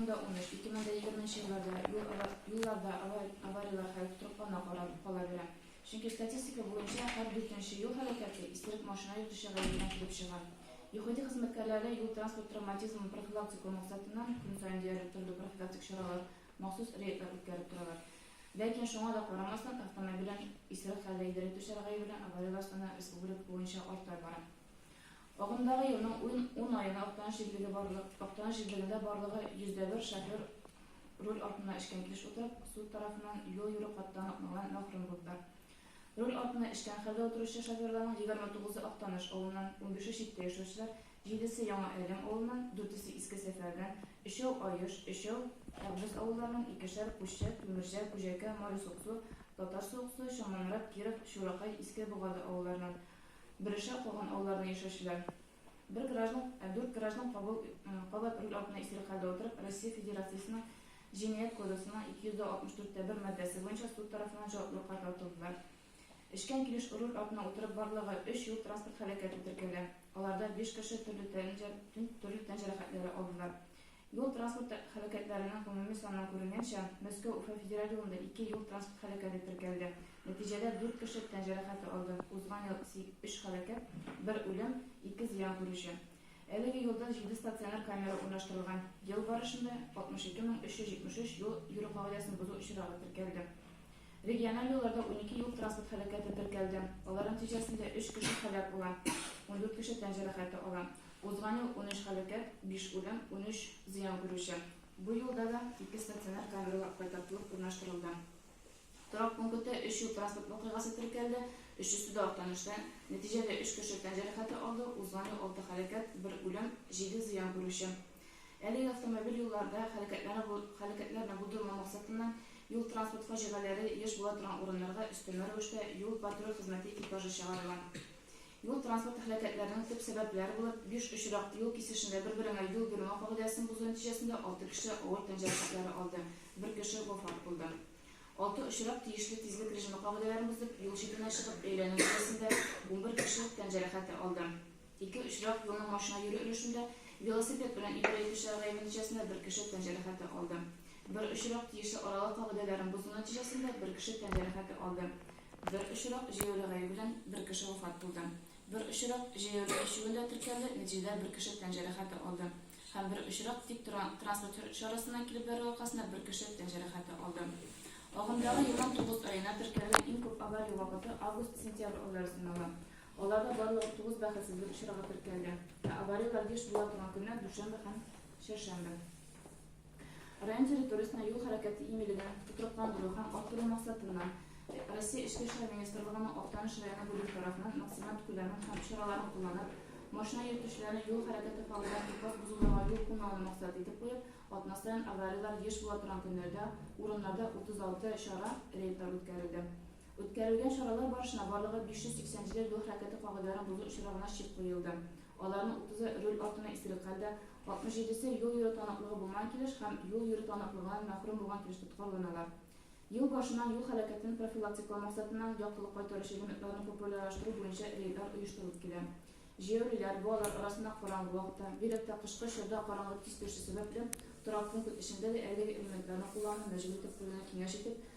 Анда унөч, ике мең дә егерменче елларда юл ава юлларда ава аварияләр хәл тотрыклана кара кала бирә. Чөнки статистика буенча һәр дүртенче юл һәлакәте исерек машина йөртүче гаебенә килеп чыга. ЮХИДИ хезмәткәрләре юл-транспорт травматизмын профилактиклау максатыннан көн саен диярлек төрле профилактик чаралар, махсус рейдлар үткәреп торалар. Ләкин шуңа да карамастан, автомобилен исерек хәлдә идарә итүчеләр гаебенә аварияләр саны республика буенча арта бара. Агымдагы елның ун аена Актаныш җирлегендә барлыгы 101 шофер руль артына эчкән килеш утырып, суд тарафыннан юл йөрү хаттан атнаган мәхрүм булдылар. Руль артына эчкән хәлдә утыручы шоферларның 29-ы Актаныш авылыннан, унбише читтә яшәүчеләр, җидесе Яңа Әлем авылыннан, дүртесе Иске Сәфәрдән, өчәү Аеш, өчәү Әгъбез авылларыннан, икешәр Кущә, Түмерҗә, Күҗәкә, Мари Суксу, Татар Суыксу, Чаңманрат, Киров, Чуракай, Иске Богады авылларыннан, Берешә калган авылларда яшәүчеләр. Бер граждан, ә дүрт граждан кабул кабат руль артына исерек хәлдә утырып, Россия Федерациясенең Җинаять кодексының 264 тә бер маддәсе буенча суд тарафыннан җаваплылыкка тартылдылар. Эчкән килеш руль артына утырып барлыгы өч юл-транспорт һәлакәте теркәлә, аларда биш кеше төрле тән төрле тән җәрәхәтләре алдылар. Юл-транспорт һәлакәтләренең гомуми саннан күренгәнчә, Мәскәү-Уфа федераль юлында ике юл-транспорт һәлакәте теркәлде. Нәтиҗәдә дүрт кеше тән җәрәхәте алды. Узган ел өч һәлакәт, бер үлем, ике зыян күрүче. Әлеге юлда җиде стационар камера урнаштырылган. Ел барышында 62 мең 373 юл йөрү кагыйдәсен бозу очрагы теркәлде. Региональ юлларда унике юл-транспорт һәлакәте теркәлде. Алар нәтиҗәсендә өч кеше һәлак була, ундүрт кеше тән җәрәхәте ала. Узган ел унөч һәлакәт, биш үлем, унөч зыян күрүче. Бу елда да ике стационар камералар кайтартылып урнаштырылды. Торак пункытта өч юл-транспорт вакыйгасы теркәлде, өчесе дә Актанышта. Нәтиҗәдә өч кеше тән җәрәхәте алды, узган ел алты һәлакәт, бер үлем, җиде зыян күрүче. Әлеге автомобиль юлларда һәлакәтләрне булдырмау максатыннан, юл-транспорт фаҗигаләре еш була торган урыннарга өстәмә рәвештә юл-патруль хезмәте экипажы чыгарыла. Юл-транспорт һәлакәтләренең төп сәбәпләре булып биш очрак, юл кисешендә бер-береңә юл бирмәү кагыйдәсен бозу нәтиҗәсендә алты кеше авыр тән җәрәхәтләре алды, бер кеше вафат булды. Алты очрак тиешле тизлек режимы кагыйдәләрен бозып, юл читенә чыгып әйләнү нәтиҗәсендә унбер кеше тән җәрәхәте алды. Ике очрак, юлның машина йөрү өлешендә велосипед белән идарә итүчеләр гаебе нәтиҗәсендә бер кеше тән җәрәхәте алды. Бер очрак, тиешле аралык кагыйдәләрен бозу нәтиҗәсендә бер кеше тән җәрәхәте алды, Бер очрак җәяүле гаебе белән бер кеше вафат булды. Бер очрак җәяүле төшүендә теркәлде, нәтиҗәдә бер кеше тән җәрәхәте алды. Һәм бер очрак тик торган транспорт чарасыннан килеп бәрү аркасында бер кеше тән җәрәхәте алды. Агымдагы елның тугыз аена теркәлгән иң күп авария вакыты август-сентябрь айлары санала. Аларда барлыгы тугыз бәхетсезлек очрагы теркәлде. Ә аварияләр еш була торган көннәр дүшәмбе һәм чәршәмбе. Район территориясенә юл хәрәкәте иминлеген тотрыкландыру һәм арттыру максатыннан, Россия Эчке эшләр министрлыгының Актаныш районы бүлеге тарафыннан максималь күләмен һәм чараларын кулланып, машина йөртүчеләрне юл хәрәкәте фавораль тупас бозуларга юл куймауны максат итеп куеп, атна саен аварияләр еш була торган көннәрдә урыннарда 36 чара, рейдлар үткәрелде. Үткәрелгән чаралар барышына барлыгы 580 җиләк юл хәрәкәте кагыйдәләрен бозу очрагына чик куелды. Аларның 30-ы руль артына исерек хәлдә, 67-се юл йөрү таныклыгы булмаган килеш һәм юл йөрү таныклыгыннан мәхрүм булган килеш тоткарланалар. Ел башыннан юл хәрәкәтен профилактиклау максатыннан яктылык кайтаручы элементларны популярлаштыру буенча рейдлар оештырылып килә. Җәяүлеләр, балалар арасында караңгы вакытта, бигрәк тә кышкы чорда караңгылык тиз төшү сәбәпле, торак пункт эчендә дә әлеге элементларны куллануны мәҗбүр итеп куюны киңәш итеп,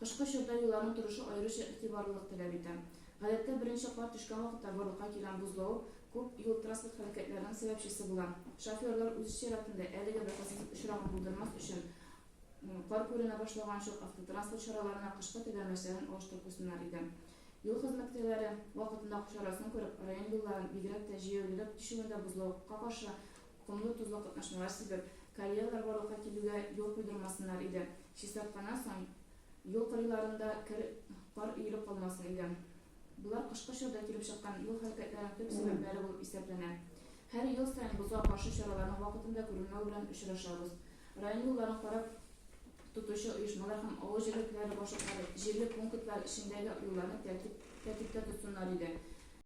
Кышкы чорда йоланың торышы аеруча игътибарлылык таләп итә. Гадәттә, беренче кар төшкән вакытта барлыкка килгән бозлавык күп юл-транспорт һәлакәтләренең сәбәпчесе була. Шоферлар үз чиратында, әлеге бәхетсез очракны булдырмас өчен, кар күренә башлаган чор автотранспорт чараларына кышкы тәгәрмәчләрен алыштырып куйсыннар иде. Юл хезмәткәрләре, вакытында акчарасын күреп, район юлларын, бигрәк тә җәяүлеләр китешүендә бозлавыкка каршы Комлы-тозлы катнашмалар сибеп, коллегалар барлыкка килүгә юл куйдырмасыннар иде. Чистартканнан соң, юл кырыйларында кер, кар өелеп калмасын иде. Болар кышкы чорда килеп чыккан юл һәлакәтләренең төп сәбәпләре булып исәпләнә. Һәр ел саен бозга каршы чараларның вакытында күренмәве белән очрашабыз. Район юлларын карап тотучы оешмалар һәм авыл җирлекләре башлыклары җирле пунктлар эчендәге юлларны тәртип, тәртиптә тотсыннар иде.